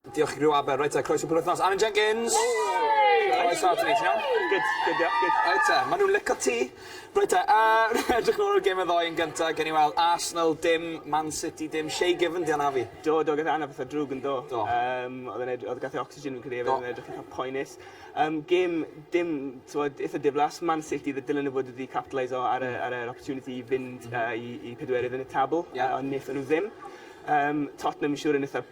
Diolch i Griw Aber. Reit te, croeso penwythnos. Anwen Jenkins! Hei! Croeso ato ni, ti'n iawn? Good, good, diolch, good. Reit te, ma' nhw'n lico ti. Reit te, yy, edrych nôl ar gêm y ddoe yn gynta, gewn ni weld, Arsenal dim, Man City dim, Shay Given 'di anafu. Do, do, gath e anaf fatha drwg, yn do? Do. Yym, o'dd e'n edr- o'dd gath e ocsigen fi'n credu efyd. Do. O'dd e'n edrych itha poenus. Yym, gêm dim, t'mod, itha diflas. Man City dd- dylen nhw fod wedi capitalise o ar y ar yr opportunity i fynd yy i i pedwerydd yn y tabl. Ie. Yy ond nethon nhw ddim. Yym, Tottenham siŵr yn itha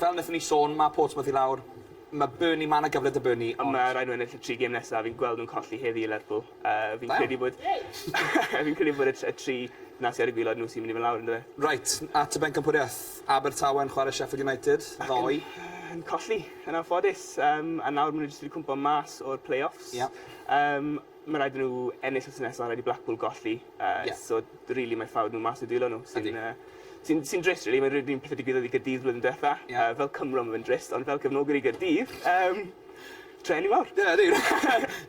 Fel nethon ni sôn, ma' Portsmouth i lawr. Ma' Burnley, ma' 'na gyfle 'da Burnley ond... Ma' raid nhw ennill y tri gêm nesa, fi'n gweld nhw'n colli heddi i Lerpwl. Yy fi'n credu bod fi'n credu bod y t- y tri 'na sy ar y gwilod nhw sy myn' i fyn' lawr on'd yfe? Reit, at y bencampwriaeth. Abertawe yn chware Sheffield United ddoe. Ac yn yn colli, yn anffodus. Yym a nawr ma' nhw jyst wedi cwmpo mas o'r play-offs. Ie. Yym. Mae rhaid i nhw ennill wythnos nesaf, rhaid i Blackpool golli, so rili mae ffawd nhw mas i'w dwylo nhw sy'n sy'n drist rili, mae'r un peth a digwyddodd i Gaerdydd flwyddyn diwetha'. Fel Cymro mae fe'n drist ond fel cefnogwr i Gaerdydd yym trueni mawr. Dyna ni!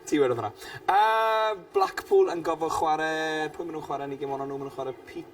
Ti wedodd hwnna. Yy Blackpool yn gorfod chware, pwy ma' nhw'n chware yn 'u gem ola' nhw? Ma' nhw'n chware Peter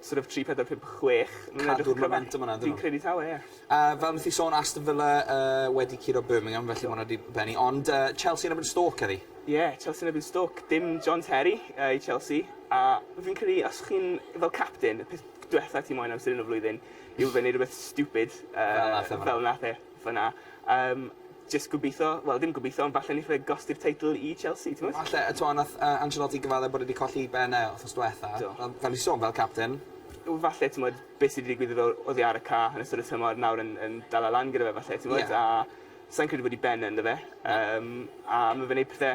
sort of tri pedwar pump chwech ni'n edrych ar momentum yna yndyn nhw? Fi'n credu taw e. A fel nes i sôn Aston Villa yy wedi curo Birmingham felly ma' hwnna 'di benni ond yy Chelsea yn erbyn Stoke heddi. Ie Chelsea yn erbyn Stoke dim John Terry yy i Chelsea a fi'n credu os chi'n fel capten y peth dwetha ti moyn amser 'yn o flwyddyn yw fe neud rwbeth stupid yy fel nath e. fan'na. Yym jyst gobitho, wel dim gobitho ond falle neith fe gosti'r teitl i Chelsea, t'mod? Falle, a t'mo' nath yy Ancelotti gyfadde bod e 'di colli ben e wthnos dwetha. Do. Fel fel fi sôn fel capten. Wel falle t'mod be' sy' 'di digwydd iddo oddi ar y ca' yn ystod y tymor nawr yn yn dala lan gyda fe falle t'mod? Ie. A sai'n credu bod 'i ben e ynddo fe. Na. Yym a ma' fe'n neud pethe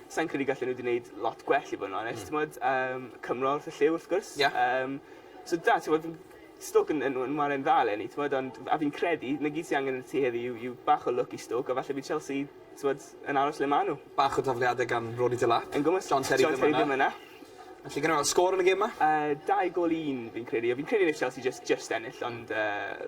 Sa i'n credu gallen nhw 'di neud lot gwell i fod yn onest. T'mod yym Cymro wrth y llyw wrth gwrs. Ie. Yym so da t'mod fi'n Stoke yn yn yn wharen dda eleni t'mod ond a fi'n credu 'na gyd sy angen yn y tŷ heddi yw yw bach o lwc i Stoke a falle bydd Chelsea t'mod yn aros le ma' n'w. Bach o dafliade gan Ronny Delap. Yn gwmws. John Terry ddim yna. John Terry ddim yna. Felly gawn ni weld sgôr yn y gêm 'ma. Yy dau gol i un fi'n credu a fi'n credu neith Chelsea jyst jyst ennill ond yy